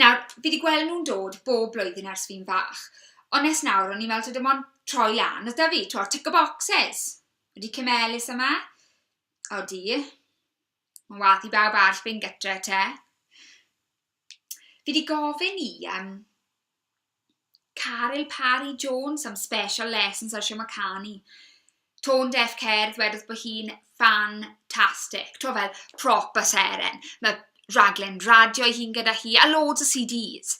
Nawr, fi 'di gweld nhw'n dod bob blwyddyn ers fi'n fach, ond nes nawr o'n i'n meddwl taw dim ond troi lan oedd 'da fi, t'mo' tick a boxes! Ydi Cymelus yma? Odi. Mae'n wath i bawb arall fynd gytre te. Fi 'di gofyn i yym Caryl Parry Jones am special lessons ar shwt ma' canu. Tone Deaf Cerdd wedodd bod hi'n fantastic. Tibod fel, proper seren. Mae rhaglen radio ei hun gyda hi, a loads o CDs.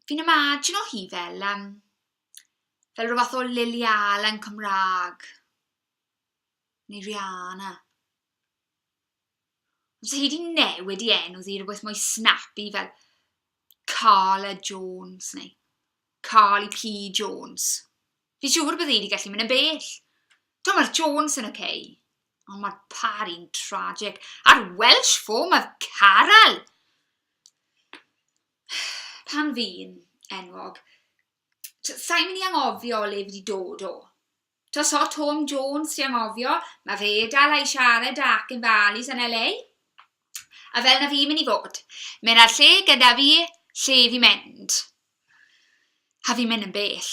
Fi'n imajino hi fel yym fel ryw fath o Lily Allen Cymraeg, neu Rihanna. Os ydych chi wedi newid i enw ddi i rywbeth mwy snappy fel Carla Jones neu Carly P Jones, fi siŵr bydde i wedi gallu mynd yn bell. Dwi'n mae'r Jones yn oce, okay, ond mae'r pari'n tragic. A'r Welsh form of Caral! Pan fi'n enwog, sa'n mynd i angofio le fi wedi dod o. Tros hot Home Jones trio anghofio, mae fe dal a'i siarad a acen valleys yn LA. A fel na fi mynd i fod. Mae na'r lle gyda fi lle i fi mynd. A fi'n mynd yn bell.